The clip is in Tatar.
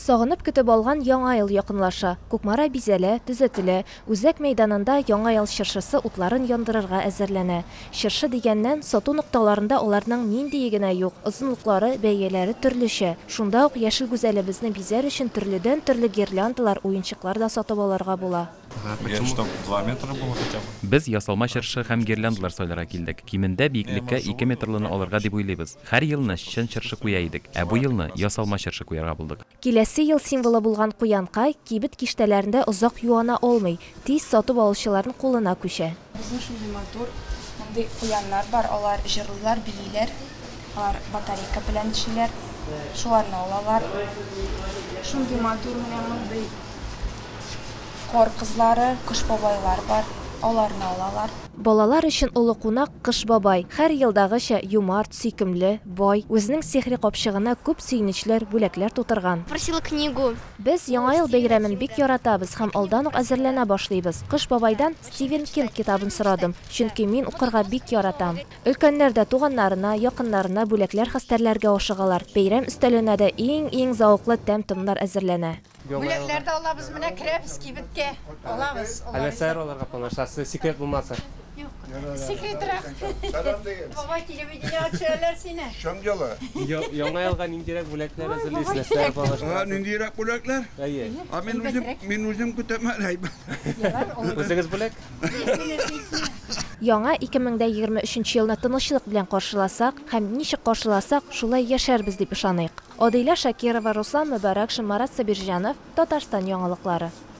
Сагынып көтеп алган Яңа ел якынлаша. Кукмара бизәлә, төзәтелә. Үзәк мәйданында Яңа ел чыршысы утларын яндырырга әзерләнә. Чыршы дигәннән, сату нокталарында аларның ниндие генә юк, озынлыклары, бәяләре төрлечә. Шунда ук Яшел Гүзәлебезне бизәр өчен төрледән-төрле гирляндалар, уенчыклар да сатып алырга була. Без ясалма чыршы һәм гирляндлар сайларга килдек. Кимендә биеклеккә ике метрлыны алырга дип уйлыйбыз. Һәр елны чын чыршы куя идек, ә бу елны ясалма чыршы куярга булдык. Киләсе ел символы булган куянка кибет киштәләрендә озак юана алмый, тиз сатып алучыларның кулына күчә. Безнең шундый матур, мондый куяннар бар, алар җырлыйлар, бииләр. Алар батарейка белән эшлиләр. Шуларны алалар. Шундый матур менә мондый кар кызлары, кыш бабайлар бар, аларны алалар. Балалар өчен олы кунак, кыш бабай. Хәр елдагыча, юмарт, сөйкемле, бай, үзенең сихри капчыгына күп сөенечләр, бүләкләр тутырган. Просила книгу. Без Яңа ел бәйрәмен бик яратабыз һәм алдан ук әзерләнә башлыйбыз. Кыш бабайдан Стивен Кинг китабын сорадым, чөнки мин укырга бик яратам. Өлкәннәр дә туганнарына, якыннарына бүләкләр хәстәрләргә ашыгалар, бәйрәм өстәленә дә иң-иң зәвыклы тәм-томнар әзерләнә. Бүләкләр дә алабыз, менә керәбез кибеткә, алабыз. Ә нәрсәләр алырга планлаштырасыз, секрет булмаса? Юк, секретрак. Бабай, телевидениегә төшерәләр сине. Чын җылы. Яңа елга ниндирәк бүләкләр әзерлисез, нәрсәләр планлаштырасыз? Ниндирәк бүләкләр? Әйе. Мин үзем көтәм әле. Үзегез бүләк. Яңа 2023 елны тынычлык белән каршыласак һәм ничек каршыласак, шулай яшәрбез дип ышаныйк. Адыйлә Шакирова, Руслан Мөбарәкшин, Марат Сабирҗанов, Татарстан яңалыклары.